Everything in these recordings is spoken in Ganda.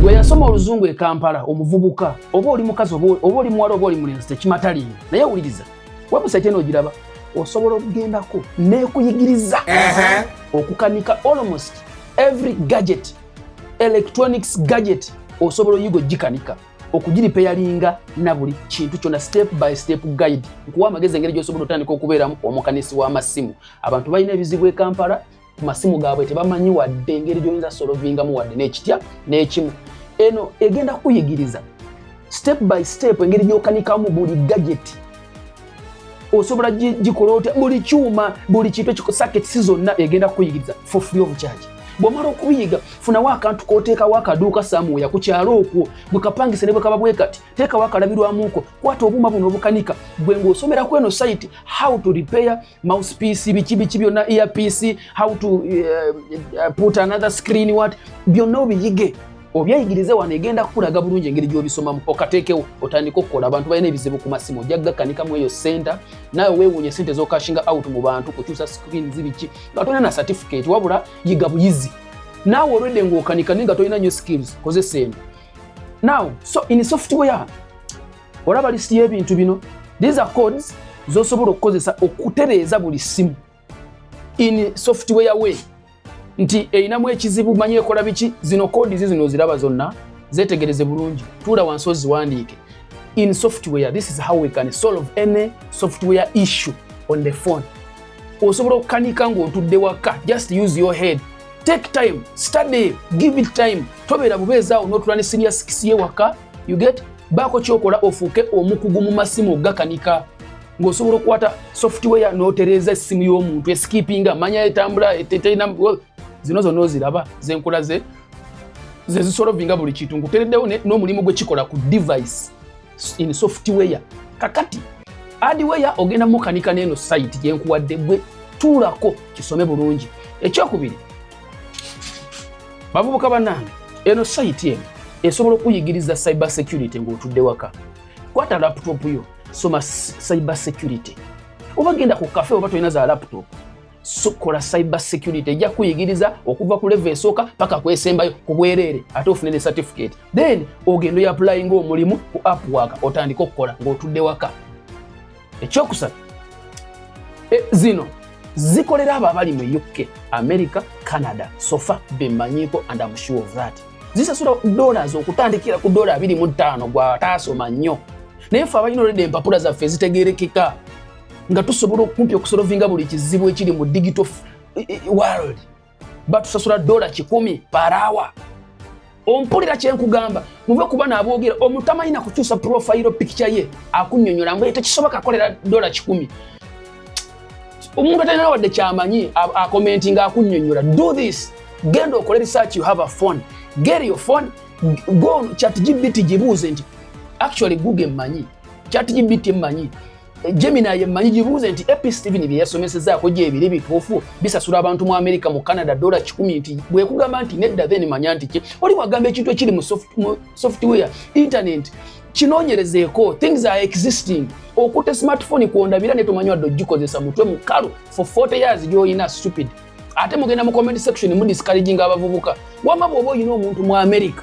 gwe yasoma oluzungu e kampala omuvubuka oba oli mukazi oba oli muwala oba oli mulenzi tekimataliyo naye wuliriza webusite eno ogiraba osobola okugendako nekuyigiriza okukanika almost every gadget electronics gadget osobola oyiga ogikanika okugiripeyalinga na buli kintu kyona step by step guide nkuwa amagezi engeri gyosobola otandika okubeeramu omukanisi w'amasimu abantu balina ebizibu e kampala ku masimu gaabwe tebamanyi wadde engeri gyoyinza solovingamu wadde n'ekitya n'ekimu eno egenda kuyigiriza step by step engeri gyokanikamu buli gajeti osobola gikola otya buli kyuma buli kintu ekisaketisi zonna egenda kukuyigiriza for free of charge bwomala okubiyiga funawo akantu koteekawo akaduuka samuweya ku kyalo okwo gwe kapangise ne bwekaba bwe kati teekawo akalabirwamuko kwata obuuma buno obukanika gwe ng'osomera ku eno site how to repair mousepiece biki biki byonna earpiece how to uh, uh, put another screen what byonna obiyige obyayigirize wano egenda kukulaga bulungi engeri gyobisomamu okateekewo otandika okukola abantu balina ebizibu ku masimu ojja gakanika mu eyo senta nawe wewunya sente zokashinga out mu bantu kukyusa screen zibiki nga tolina na certificate wabula yiga buyizi naawe olwedde ngaokanika naye nga tolina nyo skills kozesa eno now so in software olaba lisiti y'ebintu bino these are codes zosobola okukozesa okutereeza buli simu in software way nti erinamu ekizibu manyi ekola biki zino kodi zi zino oziraba zonna zetegereze bulungi tuula wansi oziwandiike in software this is how we can solve any software issue on the phone osobola okukanika ng'otudde waka just use your head take time study give it time tobeera bubeezaawo n'otula ne siniya sikisi ye waka you get baako kyokola ofuuke omukugu mu masimu ogakanika ng'osobola okukwata software n'otereeza essimu y'omuntu esikipinga manya etambula eteterina zino zonna oziraba zenkola ze zezisolovinga buli kintu ngutereddewo n'omulimu gwekikola ku device in software kakati adiweya ogenda mukanika neeno site gyenkuwadde gwe tuulako kisome bulungi ekyokubiri bavubuka banange eno sayiti eno esobola okuyigiriza cyber security ng'otudde waka kwata laptop yo soma cyber security oba genda ku kafe oba tolina za laptop sukola cyber security ejja kuyigiriza okuva ku levo esooka paka kwesembayo ku bwereere ate ofune ne certificate then ogenda oyapulayinga omulimu ku app waka otandika okukola ng'otudde waka ekyokusatu e, zino zikolera abo abali mu uk america canada sofa bemanyiko and am sure of that zisasula dollars okutandikira ku dola 25 gwataasoma nnyo naye fe abalina oleda empapula zaffe zitegerekeka nga tusobola okumpi okusolovinga buli kizibu ekiri mu digital e, e, world batusasula dola kikumi parawa ompulira kyenkugamba muve kuba nabogera omuntu amalina kukyusa profile picture ye akunyonyola mbu tekisoboka akolera dola kikumi omuntu atalina wadde kyamanyi akomenti nga akunyonyola do this genda okole research you have a phone get your phone go chat gbt gibuuze nti actually google manyi chat gbt manyi Gemini yemmanyi gibuuze nti AP Steven bye yasomesezaako gyebiri bituufu bisasula abantu mu Amerika mu Canada dola kikumi nti bwekugamba nti nedda then manya nti ki oli wagamba ekintu ekiri mu software internet kinoonyerezeeko things are existing okute smartphone kwondabira netomanywadde ogikozesa mutwe mukalu for 40 years gyoyina stupid ate mugenda mu comment section mu discouraging abavubuka wama bwoba oyina omuntu mu america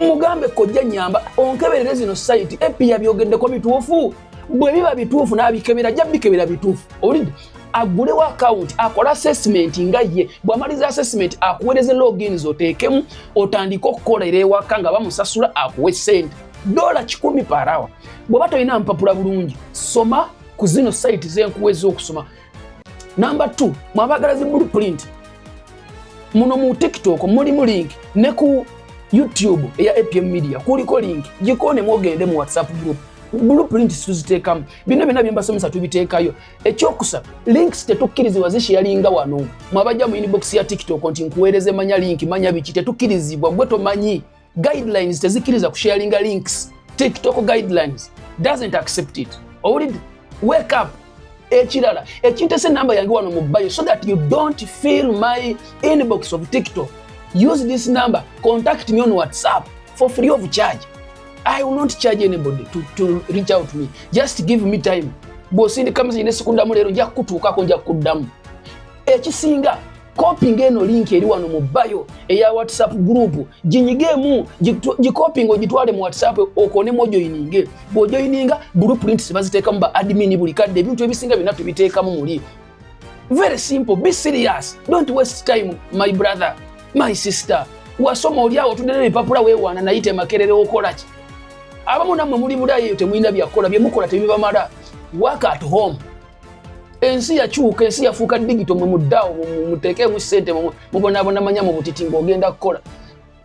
mugambe kojja nyamba onkeberere zino site epiya byogeddeko bituufu bwe biba bituufu n'abikebera ajja bikebera bituufu owulidde agulewo akawunti akole assessment nga ye bwamaliza assessment akuweereze logins oteekemu otandike okukolera ewaka nga bamusasula akuwe sente dola kikumi parawa bw'oba tolina mpapula bulungi soma ku zino sayiti zenkuwa ez'okusoma Number 2 mwabagala zi blueprint muno mu TikTok mulimu link ne ku YouTube eya APM Media kuliko link jikone mwogende mu WhatsApp group blueprint situziteekamu bino byonna bye mbasomesa tubiteekayo ekyokusa links tetukkirizibwa zishiyalinga wano mwabajja mu inbox ya tiktok nti nkuweereze manya link manya biki tetukkirizibwa gwe tomanyi guidelines tezikiriza kusharinga links tiktok guidelines doesn't accept it owulidde wake up ekirala ekintesa enamba yange wano mu bayo so that you don't feel my inbox of tiktok use this number contact me on whatsapp for free of charge i will not charge anybody to, to reach out me just give me time bwosindika message nesikundamu leero nja kukutuukako nja kukuddamu ekisinga kopinga eno linki eri wano mu bayo eya whatsapp group ginyigeemu gikopinga ogitwale mu whatsapp okonemu ojoyininge bwojoyininga blueprints baziteekamu ba admini buli kadde ebintu ebisinga byonna tubiteekamu muli very simple be serious don't waste time my brother my sister wasoma olyawo otudde nebipapula wewaana naye temakerere okolaki abamu nammwe muli bulayo temulina byakukola byemukola tebibamala work at home ensi yakyuka ensi yafuuka digito mwe muddawo muteekemu ssente mubonabona manya mu butiti ng'ogenda kukola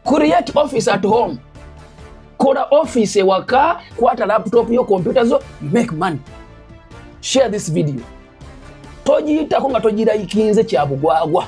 create office at home kola office ewaka kwata laptop yo kompyuta zo make money share this video togiyitako nga togirayikinze kyabugwagwa